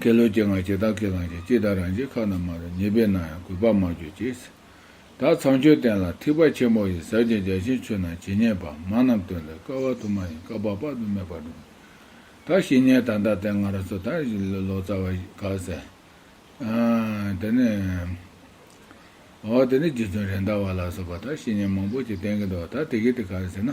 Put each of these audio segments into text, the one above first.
ཁེ་ལོ་སྐྱེ་ངག་ཀྱེ་རྟག་ཁས་བླངས་ཀྱང་ཅི་ལྟར་རང་བྱེད་ཁ་ན་མ་རུ་ཉེས་པས་ན་ཡང་གུས་པར་མ་གྱུར་ཅིག། ད་ཚངས་སྤྱོད་བསྟན་ལ་ཐིགས་པ་ཆེན་པོ་ཡི་ཟབ་ཅིང་རྒྱ་ཆེན་ཆོས་རྣམས་ཇི་སྙེད་པ་མང་རྣམས་སྟོན་པའི་སྐལ་བ་དུ་མ་ཡིན་སྐབས་པགས་པགས་དུ་མས་པར་འགྲུབ། ད་བཤེས་གཉེན་དམ་དག་ལྡན་ང་རང་ཚོ་དང་བཞི་ལོ་ལོ་ཙཱ་བ་ཞིག་ག་ཟེར། དེ་ནི། འོ་དེ་ནི་རྗེ་བཙུན་རེད་མདའ་བ་ལགས་སོགས་པ་དང་བཤེས་གཉེན་མང་པོ་ཞིག་བསྟེན་གྱི་འདུག་ད་དེ་གི་དེ་ག་རེ་ཟེར་ན།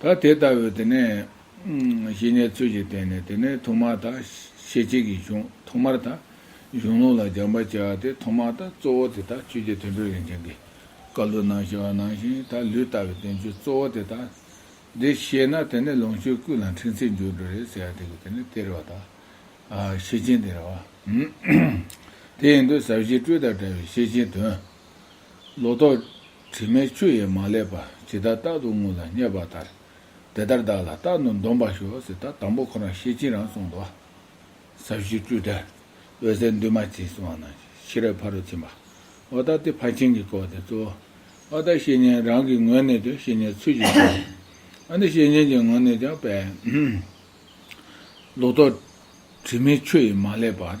ད་དེ་ལྟ་བུའི་དེ་ནས། ཞི་གནས་ཚུལ་གྱིས་བསྟན་ནས་དེ་ནས་ཐོག་མ་དག། ཤེས་བྱེད་ཀྱི་གཞུང་ཐོག་མར་དག། གཞུང་ལུང་ལ་སྦྱང་བར་བྱ་བ་དེ་ཐོག་མ་དག་གཙོ་བོ་དེ་དག་ཆོས་ཀྱི་དོན་དྲུག་རིན་ཆེན་གྱི། བཀའ་ལུགས་ནང་བྱ་བ་ནང་བཞིན་དག་ལུས་ལྟ་བའི་དོན་བཅུ་གཙོ་བོ་དེ་དག། འདི་ཤེས་ན་དེ་ནས་ལོངས་སྤྱོད་ཀུན་ལ་འཕྲིན་ཚིག་འཇུག་འགྲོ་རེད་ཟེར་བ་དེ་ཀུན་དེ་ནས་སྟེར་བ་དག། ཤེས་ཆེན་སྟེར་བ། དེ་ཡིན་དུས་ཟབ་ཞི་སྤྲོས་དང་བྲལ་བའི་ཤེས་ཆེན་དོན། ལོག་རྟོག། དྲི་མའི་ཆུ་ཡིས་མ་བསླད་པར་ཇི་ལྟར་རྟག་ཏུ་དངོས་ལ་བསྙད་པ་ལྟར། དེ་ལྟར་བདག་ལ་རྟག་ཏུ་འདོམས་པར་ཞུ་ཟེར་ད་དང་པོ་ཁོ་རང་ཤེས་ཕྱིན་རང་གསུངས་ཏོ། ཟབ་ཞུའི་སྤྲུལ་ཏེ། འོད་གསལ་འདུས་མ་བྱས་སུ་བ་ན་ཤེས་རབ་ཕ་རོལ་ཕྱིན་པ། འོ་ད་དེ་ཕར་ཕྱིན་གྱི་སྐོར་དེ་གཙོ་བོ། འོ་ད་བཤེས་གཉེན་རང་གི་ངོས་ནས་ཀྱང་བཤེས་གཉེན་ཚུལ་གྱིས་བྱུང། འོ་ན་བཤེས་གཉེན་གྱི་ངོས་ནས་ཀྱང་དཔལ། ལོག་རྟོག། དྲི་མའི་ཆུ་ཡིས་མ་བསླད་པར།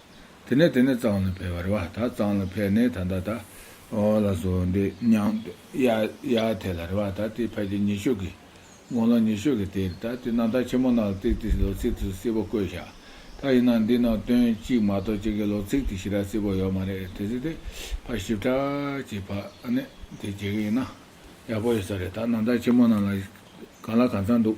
དེ་ནས་དེ་ནས་གཙང་ལ་ཕེབས་རེ་བ་ད་གཙང་ལ་ཕེབས་ནས་ད་ད་ད། ཨོ་ལ་བཟོ་འདི་སྙང། ཡ་ཡ་དེ་ལ་རེ་བ་ད་དེ་ཕལ་ཆེར་ཉི་ཤུ་གི། དགུང་ལོ་ཉི་ཤུ་གི་དེར་ད་དེ་རྣམ་ཐར་ཆེན་མོ་རྣམས་ལ་ཚིག་དེ་ལོ་ཚིག་དེ་སིལ་བོ་བཀོད་བཞག་ད་ཡིན་ན་འདི་རྣམས་དོན་གཅིག་མ་གཏོགས་གཅིག་གི་ལོ་ཚིག་དེ་ཞི་ར་སིལ་བོ་ཡོད་མ་རེད་དེ་ཚིག་དེ་ཕར་ཞིབ་ཕྲ་གྱིས་ཕ་ནི་དེ་བྱེད་གི་ཡིན་ན་ཡག་པོ་ཡོད་ས་རེད་ད་རྣམ་ཐར་ཆེན་མོ་རྣམས་ལ་གང་ལ་གང་འཚམ་འདུག།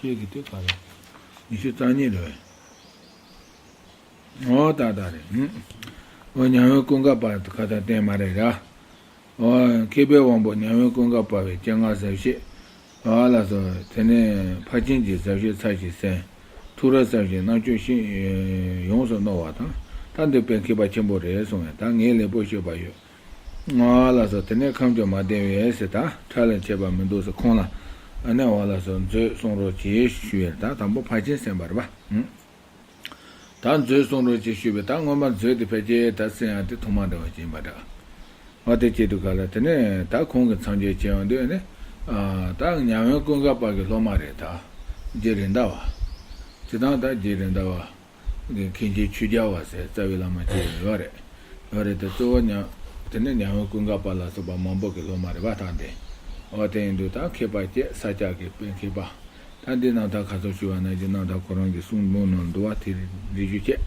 ཤེས་ཀྱི་དེ་ག་རེད། ཉི་ཤུ་རྩ་གཉིས་རེད་བས། ཨོ་ད་ད་རེད། ཨོ་མྱ་ངན་ཀུན་དགའ་བར་དུ་ཁ་ད་བསྟན་མ་རེད་ར། ཨོ། མཁས་པའི་དབང་པོ་མྱ་ངན་ཀུན་དགའ་བར་བའི་སྤྱན་སྔར་ཟབ་ཤེས། ཨོ་ལ་སོ། དེ་ནས་ཕར་ཕྱིན་གྱི་ཟབ་ཤེས་ཚར་ཞིག་གསན། ཐུགས་ར་ཟབ་ཞིང་རྣ་ཆོས་ཤིང། ཡོངས་སུ་རྣོ་བ་དང། ད་འདོད་པའི་མཁས་པ་ཆེན་པོ་རེད་གསུང་བས་ད་ངས་ལེགས་པོ་ཤེས་པ་ཡོད། ང་ལ་སོགས་དེ་ནས་ཁམས་ཀྱང་མ་བསྟན་བས་སེ་ད་ཁྲ་ལན་བྱས་པ་མི་འདུག་སེ་ཁོང་ལ་ཨ་ནེ་བ་ལ་སོགས་མཛོད་གསུང་རོགས་གྱིས་ཞུ་བས་ད་དང་པོ་ཕ་ཆེན་སེམས་པར་བ། ད་མཛོད་གསུང་རོགས་གྱིས་ཞུ་བས་ད་སྔོན་མ་མཛོད་དེ་ཕལ་སྐྱེ་ད་སེ་ཡང་དེ་ཐོག་མ་འདྲ་བ་གྱིས་མ་གྲགས་བ་དེ་སྐྱེ་དུ་ག་ལ་དེ་ནས་ད་ཁོང་གི་འཚང་རྒྱས་བྱས་བ་འདི་ཨ་ནེ་ད་ཉང་བན་ཀུན་དགའ་དཔག་གི་སློབ་མ་རེད་ད་རྗེ་རེད་འདའ་བ། ཅི་དང་ད་རྗེ་རེད་འདའ་བ། མཁན་ཆེན་ཆོས་རྒྱལ་བ་ཟེར་རྩ་བའི་བླ་མ་བརྒྱད་ཡོད་རེད། ཡོད་རེད་དེ་གཙོ་བོ་ཉང། དེ་ནས་ཉང་བོད་ཀུན་དགའ་བ་ལ་སོགས་པ་མང་པོ་གི་སློབ་མ་རེ་བ་དང་ལྡན། འོ་དེ་ཡིན་དུས་ད་མཁས་པ་སྐྱེ་ས་སྐྱ་གི་དཔེ་མཁས་པ། ད་འདི་ནང་ད་ག་ཚོགས་ཞུ་བ་ན་རྒྱུ་ནང་ད་ཁོ་རང་གི་གསུང་འབུམ་ནང་འདུ་བ་དེ་རེད་འདི་ཞུ་ཆེད།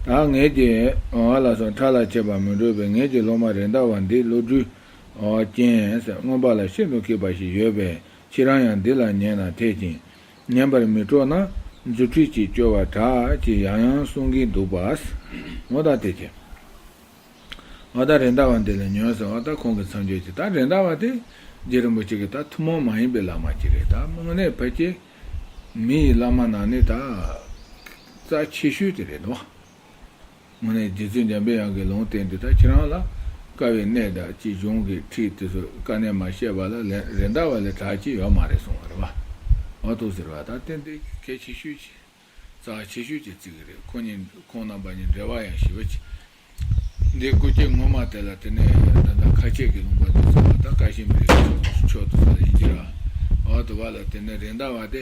ད་ངེད་ཀྱི། ང་ལ་སོགས་ཕྲ་ལ་ཆད་པ་མི་འགྲོ་བའི་ངེད་ཀྱི་སློབ་མ་རེ་འདའ་བ་འདི་བློ་གྲོས། རྐྱེན། མངོན་པ་ལ་ཤིན་ཏུ་མཁས་པ་ཞིག་ཡོད་པའི་ཕྱིར་རང་ཡང་འདི་ལ་ཉན་ན་འཐད་ཅིང། ཉན་པར་མི་སྤྲོ་ན་རྫུ་འཕྲུལ་གྱིས་སྐྱོ་བ་དྲག་ཅེས་ཡང་ཡང་གསུང་གིན་འདུག་པ། མོ་ད་དེ་ཁྱེད། ཨོ་ད་རེད་འདའ་བ་འདི་ལ་ཉོན་ཟེར་བ་ད་ཁོང་གི་མཚམས་སྦྱོར་གྱི་ད་རེད་འདའ་བ་དེ། རྗེ་རིན་པོ་ཆེ་གི་ད་ཐུན་མོང་མ་ཡིན་པའི་བླ་མ་གཅིག་རེད་ད་དམིགས་གནད་ཕལ་སྐྱེས། མི་ཡི་བླ་མ་ནང་ནས་ད། རྩ་ཆེ་ཤོས་དེ་རེད་དོ། ནས་རྗེ་བཙུན་འཇམ་པའི་དབྱངས་ཀྱིས་ལུང་བསྟན་འདི་དག་ཁྱེད་རང་ལ་དཀའ་བའི་གནས་དག་ཅི་བྱུང་གིས་ཁྲིད་དེ་ཚོའི་དཀའ་གནས་མ་བཤད་པ་ལ་རེ་འདའ་བ་ལས་གྲགས་ཅི་ཡོད་མ་རེད་གསུང་བ་རེད་བ། འོ་ཐུགས་ཟེར་བ་དང་ཏན་ཏན་གྱི་སྐད་ཆེ་ཤོས་ཀྱིས་རྩ་ཆེ་ཤོས་ཀྱིས་བརྩི་གི་རེད་ཁོ་གཉིས་ཁོང་རྣམ་པ་གཉིས་འབྲེལ་བ་ཡང་ཞི་བ་ཅི། འདི་སྐུ་སྐྱེ་ངོ་མ་དེ་ལ་དེ་ནས་ད་ལྟ་ཁ་ཆད་ཀྱི་ལུང་པ་དེ་ཚོ་བ་དང་བཀའ་བཞིན་མི་རིགས་ཀྱི་ཕྱོགས་དུ་ས་ལ་ཡིན་གྱི་ར་བ་དུ་བ་ལ་དེ་ནས་རེ་འདའ་བ་དེ་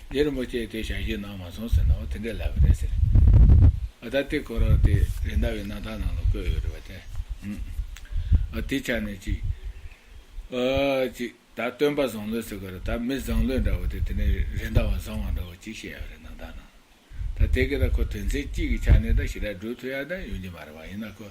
རྗེ་རིན་པོ་ཆེས་དེ་ཞལ་གྱིས་གནང་མ་སོང་ཟེར་ནའོ་དེ་འདྲའི་ལབ་པ་རེད་ཟེར། ཨ་ད་ཏི་ཀོ་ར་དེ་རེད་མདའ་བའི་གནང་སྟངས་ནང་ལ་བཀོད་ཡོད་རེད་བ་དེ། ཨ་དེ་ཆ་ནས་ཅིག། ཨ། ཅིག་ད་སྟོན་པ་བཟང་ལོས་ཟེར་ག་རེད་ད་མི་བཟང་ལོས་འདྲ་བ་དེ་དེ་ནས་རེད་མདའ་བ་བཟང་བ་འདྲ་བ་ཅིག་བཤད་ཡོད་རེད་གནང་སྟངས་ནང་ལ། ད་དེ་གི་ད་ཁོ་དོན་ཚན་གཅིག་གི་ཆ་ནས་ད་ཞི་དྲག་སྒྲུག་ཐུབ་ཡ་ད་ཡོང་གྱི་མ་རེད་བ་ཡིན་ན་ཁོ་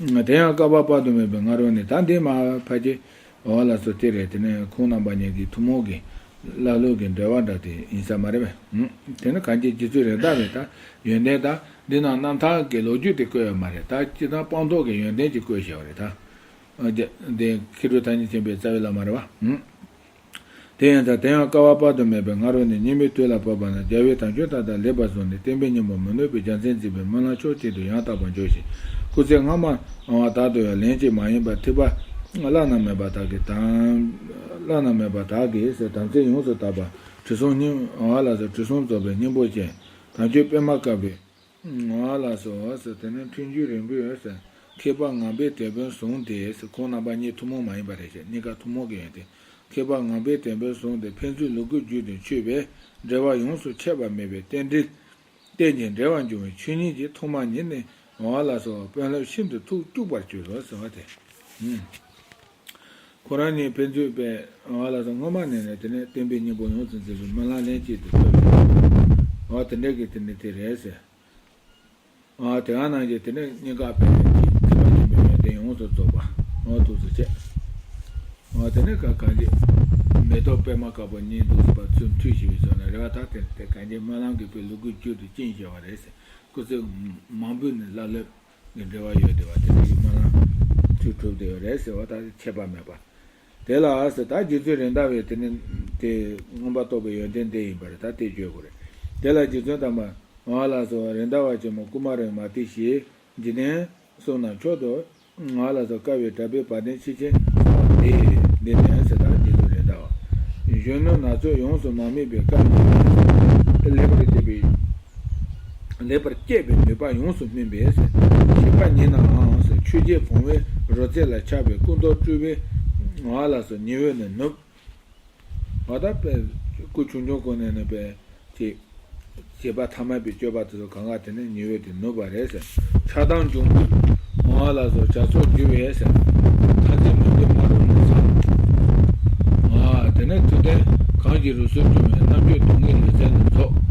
དེ་ཡང་བསྐལ་པ་དཔག་ཏུ་མེད་པའི་སྔ་རོལ་ནས་ད་ལྟའི་མ་བར་གྱི་བར་ལ་སོ་སྟེ་རེད་དེ་ནི་ཁོང་རྣམ་པ་གཉིས་ཀྱི་ཐུན་མོང་གི་ཀླ་ཀློའི་གི་འབྲེལ་བ་འདྲ་དེ་ཡིན་ས་མ་རེད་པས། དེ་ནི་གངས་ཅན་སྤྱི་ཚོས་རེ་དྭགས་པའི་ད་ཡོན་ཏན་ད་འདི་ན་རྣམ་ཐར་གྱི་ལོ་རྒྱུས་དེ་བཀོད་ཡོད་མ་རེད་ད་སྤྱི་དང་སྤངས་རྟོགས་གི་ཡོན་ཏན་གྱི་བཀོད་བྱས་པ་རེད་ད། དེ་མཁས་གྲུབ་ཐ་སྙད་ཆེན་པོའི་རྩ་བའི་བླ་མ་རེད་བ། དེ་ཡིན་ཙང་དེ་ཡང་དཀའ་བ་དཔག་ཏུ་མེད་པའི་ང་རོ་ནས་སྙིགས་མའི་དུས་ལ་བབ་པ་ན་རྒྱལ་བའི་དམ་ཆོས་དག་དང་ལེགས་པར་བཟུང་ནས་བསྟན་པའི་སྙིང་པོ་མི་གནོད་པའི་རྒྱལ་མཚན་འཛིན་པའི་སྨོན་ལམ་མཆོག་གཅིག་ཏུ་ཡང་དག་པར་འཇོག་བཞིན། སྐུ་ཚེ་སྔ་མ་འང་བ་དག་ཏུ་ཡང་ལན་གཅིག་མ་ཡིན་པར་ཐིགས་པ། བླ་ན་མེད་པ་དག་གིས་དམ། བླ་ན་མེད་པ་དག་གིས་དམ་ཚིག་ཡོངས་སུ་དག་པ། དྲི་བསུང་སྙིང། བ་ལ་སོགས་དྲི་བསུང་རྫོགས་པའི་སྙིང་པོ་ཅན། དམ་ཆོས་པད་མ་དཀར་པོའི། ང་ལ་སོགས་དེ་ནི་མཐུན་རྒྱུད་རིང་པོའི་མཁས་པ་ངང་པའི་དེད་དཔོན་བཟུང་སྟེ་ཁོང་རྣམ་པ་གཉིས་ཐུན་མོང་མ་ཡིན་པ་རེད་ཅེས་གཉིས་ཀ་ཐུན་མོང་གི་ཡོན་ཏན་མཁས་པ་ངང་པའི་དེད་དཔོན་བཟུང་སྟེ་ཕན་ཚུན་ལུ་གུ་རྒྱུད་དུ་འཁྱུད་པས་འབྲེལ་བ་ཡོངས་སུ་ཆད་པ་མེད་པའི་རྟེན་འབྲེལ། རྟེན་ཅིང་འབྲེལ་བར་འབྱུང་བའི་ཆོས་ཉིད་ཀྱི་ཐོག་མ་ཉིད་ནི་ང་ལ་སོགས་དཔོན་སློབ་ཤིན་ཏུ་ཐུགས་སྐྱུགས་པར་གྱུར་ཏོ་ཟེར་བ་དེ། ཁོ་རང་ཉིད་ཕན་ཚུན་བས་ང་ལ་སྔོན་མ་ནས་ནས་དེ་ནས་བསྟན་པའི་སྙིང་པོ་ཡོངས་སུ་འཛིན་པའི་མི་ལ་ལན་གཅིག་དེ་ཐོས་པས་ཨོ་དེ་འདྲ་གི་དེ་ནི་དེ་རེད་ཟེར། ཨོ་དེ་ག་ནང་གི་དེ་ནི་སྙིང་ག་པའི་ནས་ཅིག་ཚིག་པ་ཆེན་པོའི་ཡོན་ཏན་ཡོངས་སུ་རྫོགས་པ་ཨོ་ཐུགས་སུ་ཆེ། ཨོ་དེ་ནི་ག་གང་གི་མེ་ཏོག་པད་མ་དཀར་པོ་གཉིས་འདུག་ཟེར་པ་ཚུལ་མཐུན་ཞི་བའི་ཕྱོགས་ན་རེ་བ་དག་དེ་ནི་དེ་ག་གི་སྨོན་ལམ་གི་བུ་ལུ་གུའི་རྒྱུད་དུ་བཅིངས་ཞེས་བ་རེད་ཟེར་སྐུ་ཚེ་མང་པོའི་ནི་ཀླ་ཀློའི། ནི་འབྲེལ་བ་ཡོད་དེ་བ་དེ་ཡིན་སྨྲ་ན། དུས་གྲུབ་དེ་རེད་ཟེར་བ་དག་ཆད་པ་མེད་པ། དེ་ལ་ཟེར་ད་རྗེ་བཙུན་རིན་དང་བས་དེ་ནི་དེ། མངོན་པར་རྟོགས་པའི་ཡོན་ཏན་དེ་ཡིན་པར་ད་དེ་བརྗོད་དགོས་རེད། དེ་ལ་རྗེ་བཙུན་དམ་པ། ང་ལ་སོགས་རིན་དང་བ་ཆེན་མོ་ཀུ་མ་རིག་མ་སྟེ་ཞེས། འཇིག་རྟེན། གསུང་ན་མཆོག་ཏུ། ང་ལ་སོགས་དཀའ་བའི་གྲྭ་པའི་བ་དན་ཕྱིས་ཆེན། སོགས་པ་དེ། འདི་ནི་ཟེར་ད་རྗེ་བཙུན་རིན་དང་བ། གཞོན་ནུ་ན་ཚོད་ཡོངས་སུ་མ་དམིགས་པའི་སྐབས་ནས། ལེགས་པར་བྱས་པའི། ལེགས་པར་སྐྱེད་པའི་ནུས་པ་ཡོངས་སུ་སྨིན་པས། བྱིས་པ་ཉིད་ནའང་ཆོས་རྗེ་བུང་བའི་རོལ་རྩེད་ལ་ཆགས་པའི་ཀུན་རྟོག་སྤྲུལ་པའི་ངང་ལ་སོ་ཉི་འོད་ནས་ནུབ། བ་དག་པས། སྐུ་ཆུང་ཆུང་ཀུན་ནས་ནུབ་པས། ཅེས། བྱིས་པ་ཐ་མལ་པའི་སྤྱོད་པ་དེ་ཚོ་གང་གཱ་དེ་ནས་ཉི་འོད་དེ་ནུབ་པ་རེད། ཆགས་སྡང་འབྱུང་པོའི་ངང་ལ་སོ་བྱ་ཚོགས་རྒྱུ་བས། ཐ་ཚིག་མི་འདོད་མ་རུངས་ནས་སོ། ང། དེ་ནས་དུས་གཏན་གང་གི་རུ་སུལ་འབྱུང་བའི་རྣམ་དཔྱོད་སྡུག་བསྔལ་ལུས་རྩལ་རྣམས་རྫོགས།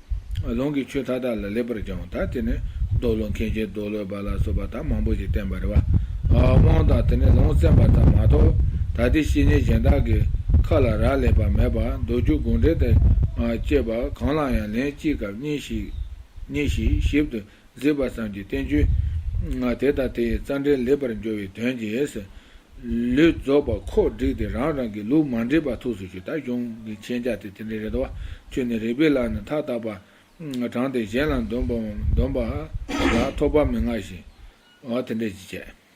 ལུང་གི་ཆོས་མཐའ་དག་ལ་ལེགས་པར་སྦྱང་བ་དག་དེ་ནི་རྡོ་ལུང་མཁན་ཆེན་རྡོ་ལོད་པ་ལ་སོགས་པ་དག་མང་པོ་ཞིག་བསྟན་པར་དབང་དང་དེ་ནས་ལུང་བསྩན་པ་ཙམ་མ་གཏོགས་ད་ལྟའི་བཤེས་གཉེན་གཞན་དག་གི་ཁ་ལ་རག་ལས་པ་མེད་པར་མདོ་རྒྱུད་དགོངས་འགྲེལ་དང་བཅས་པ་གང་ལ་ཡང་ལན་གཅིག་གམ་གཉིས་ཤིག་ཞིབ་ཏུ་མཛེས་པ་ཙམ་གྱི་བསྟན་བཅོས། དེ་དང་དེ་ཡི་རྩ་འགྲེལ་ལེགས་པར་འབྱོར་བའི་དོན་གྱིས། ལུས་རྫོགས་པ་ཁོག་བསྒྲིགས་ཏེ་རང་རང་གི་ལུགས་མ་འདྲེས་པ་ཐུགས་སུ་ཆུད་ལྟ་སྐྱོང་གི་མཁྱེན་རྒྱ་དེ་དེ་འདྲའི་རེ་དོགས་ཆུད་ནས་རིག་པའི་ལམ་ནི་མཐའ་དག་པར་དྲངས་ཏེ་གཞན་ལ་འདོམས་པ་ལ་ཐོགས་པ་མི་མངའ་ཞིང། དེ་འདྲའི་ཅི་སྤྱད།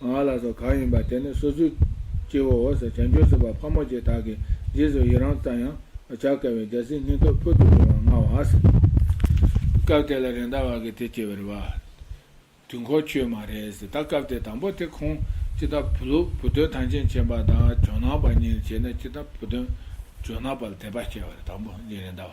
ང་ལ་སོགས་གང་ཡིན་པ་དེ་ནི་སོ་སོའི་སྐྱེ་བོའོ་ཟེར་བྱང་ཆུབ་སེམས་དཔའ་ཕག་མོ་ཆེ་དག་གིས་རྗེས་སུ་ཡི་རང་བརྩམས་ཡང། བྱ་དཀའ་བའི་རྒྱལ་སྲིད་སྙིང་སྟོབས་ཕུལ་དུ་བྱུང་བར་མངའ་བ། སྐབས་དེ་ལ་རེ་མདའ་བ་གི་དེ་སྐྱེ་བར་བ། དུས་འཁོར་ཁྱོད་མ་རེད། ད་སྐབས་དེ་དང་པོ་དེ་ཁོང་ཅི་ལྟ་བུ་ལུགས་བུ་སྟོན་ཐང་ཆེན་ཆེན་པ་དང་ཇོ་ནང་པ་གཉིས་བྱས་ནས་ཅི་ལྟ་བུ་སྟོན། ཇོ་ནང་པ་ལ་དད་པ་སྐྱེ་བར་དང་པོ་གཉིས་རེ་མདའ་བ།